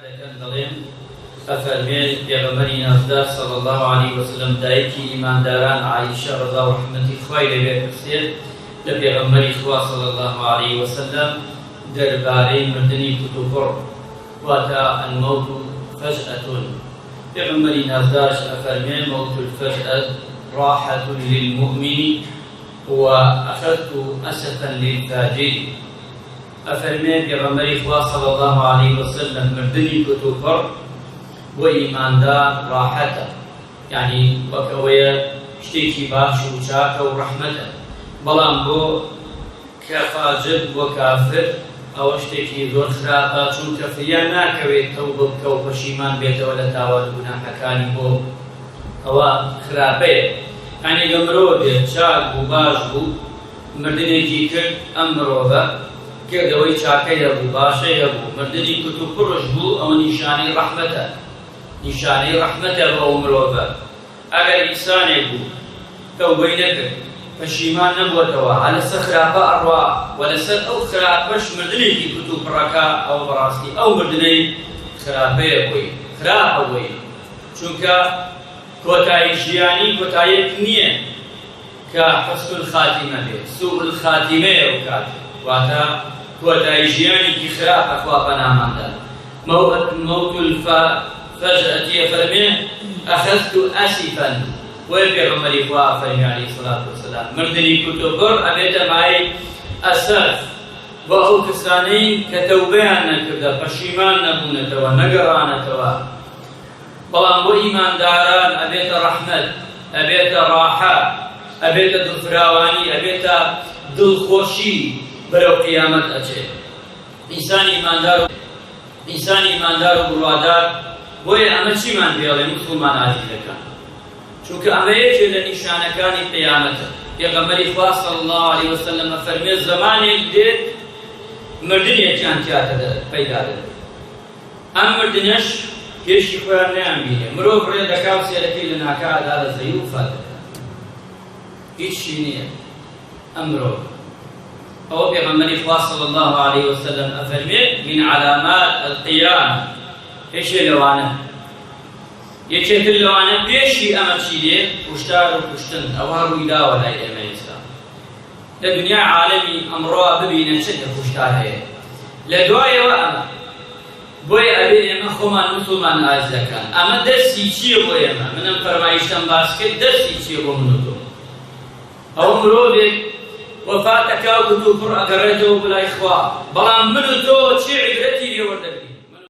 دەکەن دەڵێن، ئەفەرمێ، پێغەمبەری نازدار صلی اللە علیە وسلم دایکی ئیمانداران عائیشە ڕەزا و ڕەحمەتی خوای لێ بێت پرسێت لە پێغەمبەری خوا صلی اللە علیە وسلم دەربارەی مردنی کوتوپڕ واتە، الموت فجأە، پێغەمبەری نازدارش ئەفەرمێ، موت الفجأە راحە للمومن و اخذت اسفا للفاجر. ئەفەرمێ پێغەمبەری خوا صلی اللە علیە وسلم مردنی کتوپڕ بۆ ئیماندار ڕاحەتە یانی وەک ئەوەیە شتێکی باش و چاکە و ڕەحمەتە بەڵام بۆ کە فاجر بۆ کافر ئەوە شتێکی زۆر خراپە چونکە فریان ناکەوێت تەوبە بکە و پەشیمان بێتەوە لە تاوان و گوناحەکانی بۆ ئەوە خراپەیە یانی گە مرۆڤێک چاک بوو باش بوو مردنێکی کرد ئەم مرۆڤە کردەوەی چاکەی هەبوو باشەی هەبوو مردنی کوتوپڕش بوو ئەوە نیشانەی ڕەحمەتە نیشانەی ڕەحمەتە بۆ ئەو مرۆڤە ئەگەر ئینسانێک بوو تەوبەی نەکرد پەشیمان نەبووەتەوە هەر لەسەر خراپە ئەڕوا وە لەسەر ئەو خراپەش مردنێکی کوتوپڕەکا ئەوە بەڕاستی ئەو مردنەی خراپەیە بۆی خراپە بۆی چونکە کۆتایی ژیانی کۆتاییەک نیە. کە حسن الخاتمە بێ سوء الخاتمەیە بکات واتە کۆتایی ژیانێکی خراپە خوا پەنامان دات موت الف فجأتیە فەرمێ اخذت اسفا بۆیە پێغەمبەری خوا فەرمی علیه الصلاة والسلام مردنی کورت و گڕ ئەبێتە مایەی ئەسەف بۆ ئەو کەسانەی کە تەوبەیان نەکردە پەشیمان نەبوونەتەوە نەگەڕانەتەوە بەڵام بۆ ئیمانداران ئەبێتە ڕەحمەت، ئەبێتە ڕاحە، ئەبێتە دڵفراوانی، ئەبێتە دڵخۆشی بەرەو قیامەت ئەچێت ئینسانی ئیماندارو بڕوادار، بۆیە ئەمە چیمان پێڵێ موسڵمان ئازیزەکان؟ چونکە ئەمە یەکێ لە نیشانەکانی قیامەتە، پێغەمبەری خوا صلی اللە علیە وسلم ئەفەرموێ زەمانێک دێت مردنێکیان تیا پەیدا دەبێت، ئەم مردنەش پێشی خۆیان نەیان بینێ، مرۆڤ ڕێ دەکا و سێرەکەی لە ناکاا دادەزەی و فات دەکا. هیچشی نییە ئەم مرۆڤە. ئەوە پێغەمبەری خوا صلی اللە علیە وسلم ئەفەرمێ، من علامات القیامە، یەکێ لەوانە، یەکێ تر لەوانە پێشی ئەمە چی دێ، کوشتار و کوشتن، ئەوە ڕووی داوە لای ئێمە ئێستا. لە دنیای عالەمی ئەمڕۆا ببینە چ تێکوشتار هەیە لە دوایەوە ئەمە بۆیە ئەبێ ئێمە خۆمان وتۆمان ئازدەکان ئەمە دەرسی چیە بۆ ئێمە من ئەم فەرمایشتەم باس کرد دەرسی چیە بۆ من وتۆ ئەو مرۆڤێک وەفاتەکاو گرتوو پڕ ئەگەڕێتەوە بۆ لای خوا بەڵام من و تۆ چی عیبرەتی لێوەردەگرین؟